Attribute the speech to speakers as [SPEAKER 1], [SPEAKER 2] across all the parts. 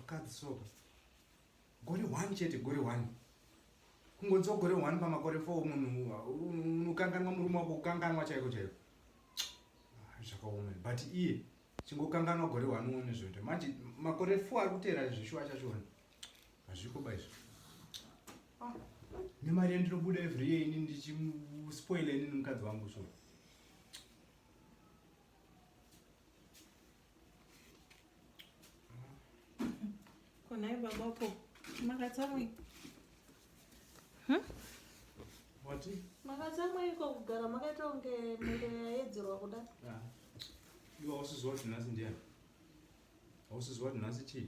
[SPEAKER 1] vakadzi soka gore one chete gore one kungonzi gore one pamakore four munhu unokanganwa murume wako kukanganwa chaiko chaiko ah, zvakaoma but iye chingokanganwa gore one uone zvoita manje makore four ari kuteera zvishuwa chachona hazviko ba izvo ah, nemari yandinobuda every year ini ndichispoila inini mukadzi wangu so Konai babako makatsamwi wati makatsamwa iko kugara makaita kunge miro yaedzerwa kuda iwe ausiziwa kuti nhasi ndiani ausiziwa kuti nhasi chii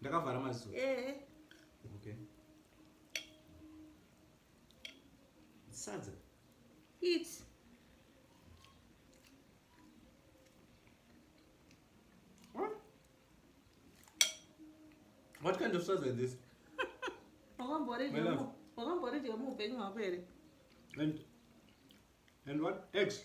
[SPEAKER 1] ndakavhara maziso eh. okay. sadza it what kind of sadza is this wakamboridya muupenyu hwako here and and what eggs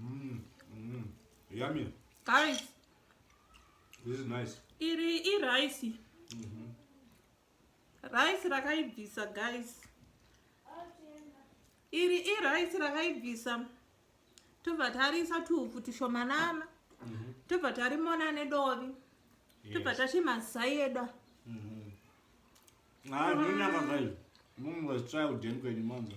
[SPEAKER 1] Mm, mm. Yummy. Guys. This is nice. Iri i rice. Mm -hmm. Rice rakaibvisa guys. Iri i rice rakaibvisa. Tobva tarisa tuupfu tushomanana. Mm -hmm. Tobva tarimona nedovi. Yes. Tobva tachimazaida. Mm -hmm. Ah, mm -hmm. Munhu was child and kwenye mwanzo.